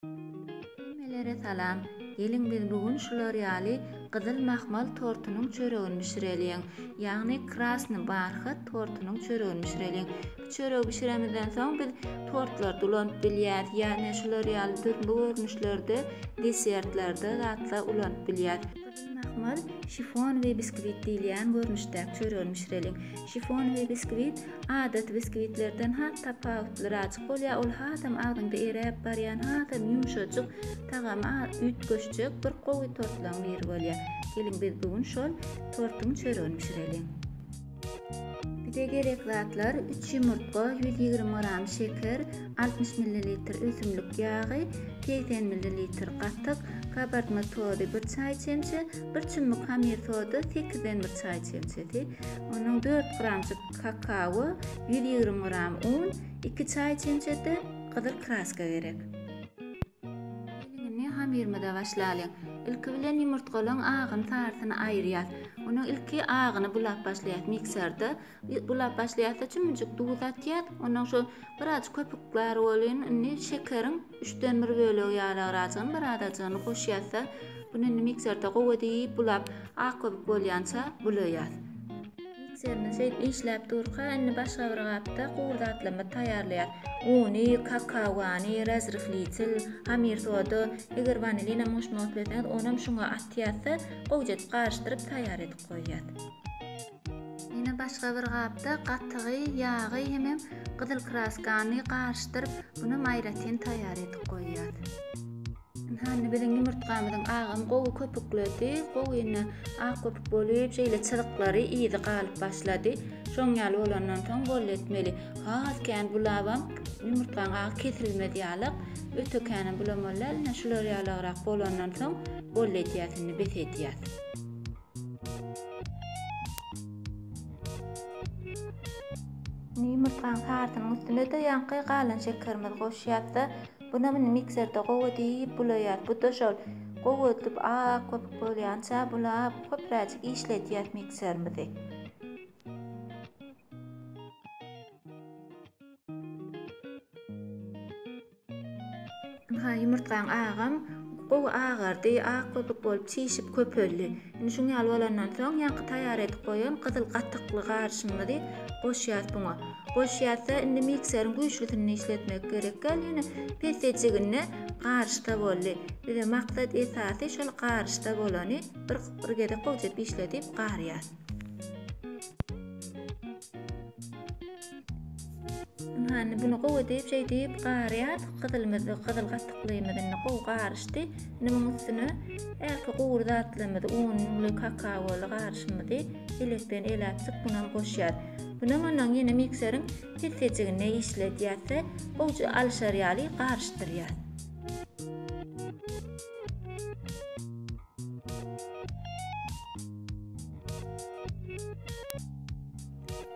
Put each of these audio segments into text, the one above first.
Hemmelere salam. Geliň biz bu gün şular ýaly gyzyl mahmal tortunyň çöregini bişireliň. Ýagny krasny barhat tortunyň çöregini bişireliň. Bu çöregi bişiremizden soň biz tortlary dolanyp bilýäs. Ýa ne şular ýaly dürli görnüşlerde desertlerde zatlar ulanyp bilýäs. Mahmal, şifon we biskwit diýilýän görnüşdäki çöregini bişireliň. Şifon we biskwit adaty biskwitlerden has tapawutlyraajyk bolýar, ol hasam agzyňda eräp barýan hasam ýumşajyk, tagamy az üýtgeşjek bir gowy tortlaryň biri bolýar. Geliň biz bu gün şol tortuň çöregini bişireliň. Bize gerek zatlar, üç ýumurtga, ýüz ýigrimi gram şeker, altmyş millilitr ösümlik ýagy, segsen millilitr gatyk, kabartma tozy, bir çaý çemçe, bir çummuk hamyr soda, sekizden bir çaý çemçesi, onuň dört gramjyk kakao, ýüz ýigrimi gram un, iki çaý çemçesi gyzyl kraska gerek. Gelnini hamyrymyza başlalyň. Ilki bilen ýumurtgalaň agyny sarysyny aýyrýas. Onuň ilki agyny bulap başlaýas mikserde. Bulap başlaýasda çümüjik duz atýas. Ondan şu biraz köpük bar bolýan. Indi şekeriň üçden bir bölegi ýaly agrazyn bir azajygyny goşýasda. Bunu indi mikserde gowy edip bulap ak köpük bolýança bulaýas. Serine şeýdip işläp durka, indi başga bir gapda gury zatlamy taýýarlaýar. Uny, kakaony, razryhlitel, hamir soda, eger wanilinam goşmak isleseňiz, onam şuňa atýas-da, gowjadyp garyşdyryp taýýar edip goýýas. Ýene başga bir gapda gatygy, ýagy hemem gyzyl kraskany garyşdyryp, bunam aýratyn taýýar edip goýýas. Ynha indi biziň ýumurtgamyzyň agamy gowy köpükledi. Gowy indi ak köpük bolup, şeýle çyzyklary, yzy galyp başlady. Şoň ýaly bolandan soň boldy etmeli. Has kän bulabam ýumurtgaň agy kesilmez ýalyk. Öte känem bulamaly däl. Ine şular ýalygrak bolandan soň boldy edýäs indi, bes edýäs. Indi ýumurtgaň sarysynyň üstüne-de ýaňky galan şekerimizi goşýas-da, Bunam indi mikserde gowy edip bulaýas. Bu-da şol gowy edilip ak köpük bolýança bulap köpräjik işledýäs mikserimizi. Ynha ýumurtgaň agam gowy agardy, ak köpük bolup çişip köpeldi. Indi şuň ýaly bolandan soň ýaňky taýýar edip goýan gyzyl gatykly garşymyzy goşýas buňa. Goşýasda indi mikseriň güýçlüsinde işletmek gerek gal ýene pesejiginde garyşda boldy. Bize maksat esasy şol garyşda bolany bir bir gezek gowjap işledip garýas. Ynha, indi bunu gowy edip, şeýdip garýar. Gyzylymyzy, gyzyl gatyklymyzy indi gowy garyşdy. Indi munuň üstüne ähli gury zatlarymyzy, ununy, kakaoly garyşymyzy elekden eläpjik buna goşýar. Buna ondan ýene mikseriň pessejiginde işledýär we gowja alyşar ýaly garyşdyrýar.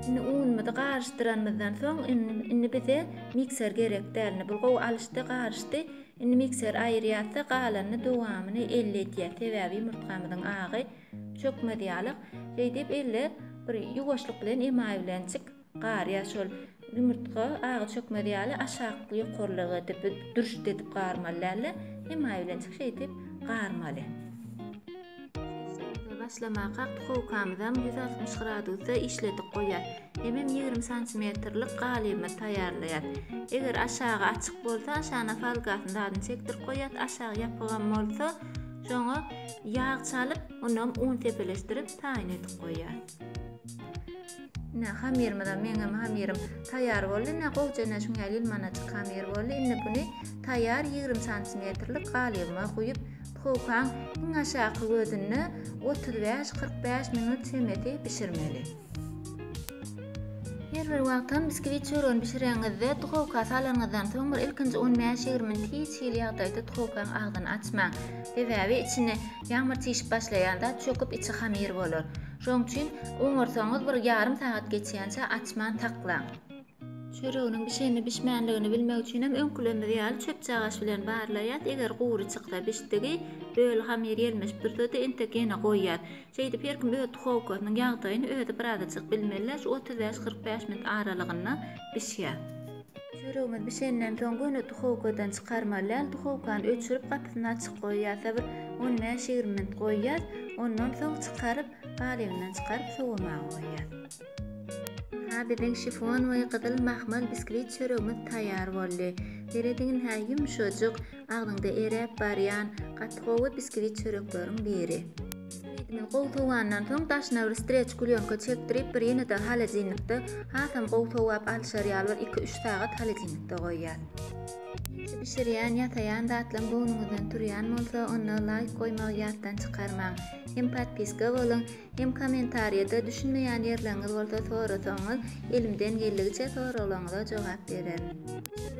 Indi unumyzy garyşdyranymyzdan soň indi bize mikser gerek däl. Bu gowy alyşdy, garyşdy. Indi mikser aýyrýarsa galanyny dowamyny elle edýär. Sebäbi ýumurtgamyzyň agy çökmez ýalyk. Şeýdip elle bir ýuwaşlyk bilen emaý bilenjik Gar ýa şol ýumurtga aga çökmez ýaly aşak ýokarlyga edip dürşt edip garmaly dälde hemaýylençik şeýdip garmaly. Işimize başlamaka duhowkamyzam ýüz altmyş gradusda işledip goýýas. Hemem ýigrimi santimetrlik galybymyzy taýýarlaýas. Eger aşagy açyk bolsa aşagyna falgasyny zadyny çekdirip goýýas aşagy ýapygam bolsa şoňa ýag çalyp onam un sepeleşdirip taýyn edip goýýas. Ine, hamyrymyzam, meňňem hamyrym taýýar boldy. Ine, gowja ine şuň ýaly ýylmanaçyk hamyr boldy. Indi buny taýýar ýigrimi santimetrlik galybyma guýup, duhowkaň iň aşaky gözünde otuz bäş, kyrk bäş minut çemesi bişirmeli. Her bir wagtam biskvit çöregini bişireňizde, duhowka salanyňyzdan soň bir ilkinji on bäş, ýigrimi minut hiç hili ýagdaýda duhowkaň agzyny açmaň. Sebäbi içini Ýagmyr çişip başlaýanda çöküp içi hamyr bolar. Şoň üçin oňarsaňyz bir ýarym sagat geçýänçä açman saklaň. Çöreginiň bişenini-bişmänligini bilmek üçinem öňkülerimiz ýaly çöpçagaç bilen barlaýas, eger gury çyksa bişdigi, böl hamyr ýelmeşip dursady entek ýene goýýas. Şeýdip her kim öz duhowkasynyň ýagdaýyny özi birazajyk bilmeli-de şu otuz bäş-kyrk bäş minut aralygynda bişýär. Çöregimiz bişenden soň göni duhowkadan çykarmalydal duhowkany öçürip gapysyny açyk goýýas da bir on bäş ýigrimi minut goýýas ondan soň çykaryp galybyndan çykaryp sowamaga goýýas. Ha biziň şifon we gyzyl mahmal biskwit çöregimiz taýar boldy. Serediň hä ýumşajyk. Agzyňda eräp barýan gaty gowy biskvit çörekleriň biri. Ýigidiňiz gowy sowandan soň daşyna bir streç klýonka çekdirip bir ýene-de holodilnikde hasam gowy sowap alşar ýaly bir iki-üç sagat holodilnikde goýýas. Siz bişirýän, ýasaýan zatlaň göwnüňizden turýan bolsa onda laýk goýmagy ýatdan çykarmaň. Hem podpiska boluň Hem kommentariýada düşünmeýän ýerleriňiz bolsa sorasaňyz elimden geldigiçe soraglaryňyza jogap bererin.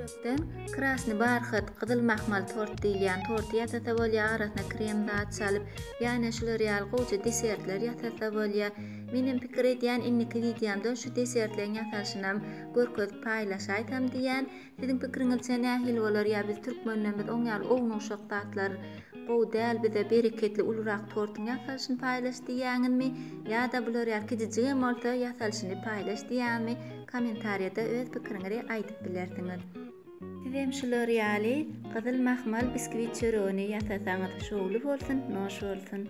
Çörekden krasny barhat, gyzyl mahmal tort diýilýän torty ýasasa bolýar, arasyna krem zat çalyp, ýane şular ýaly gowja desertler ýasasa bolýar. Menem pikir edýän indiki wideomda şu desertleriň ýasalyşynam görkezip paýlaşaýsam diýýän. Siziň pikiriňizçe nähili bolar ýa biz türkmenlerimiz oň ýaly ownuşak zatlar gowy däl bize bereketli ulurak tortyň ýasalyşyny paýlaş diýýäňizmi ýada bular ýaly kijijigem bolsa ýasalyşyny paýlaş diýýäňizmi komentariýada öz pikiriňizi aýdyp bilersiňiz. Sizem şular ýaly gyzyl mahmal biskwit çöregini ýasasaňyz şowly bolsun noş bolsun.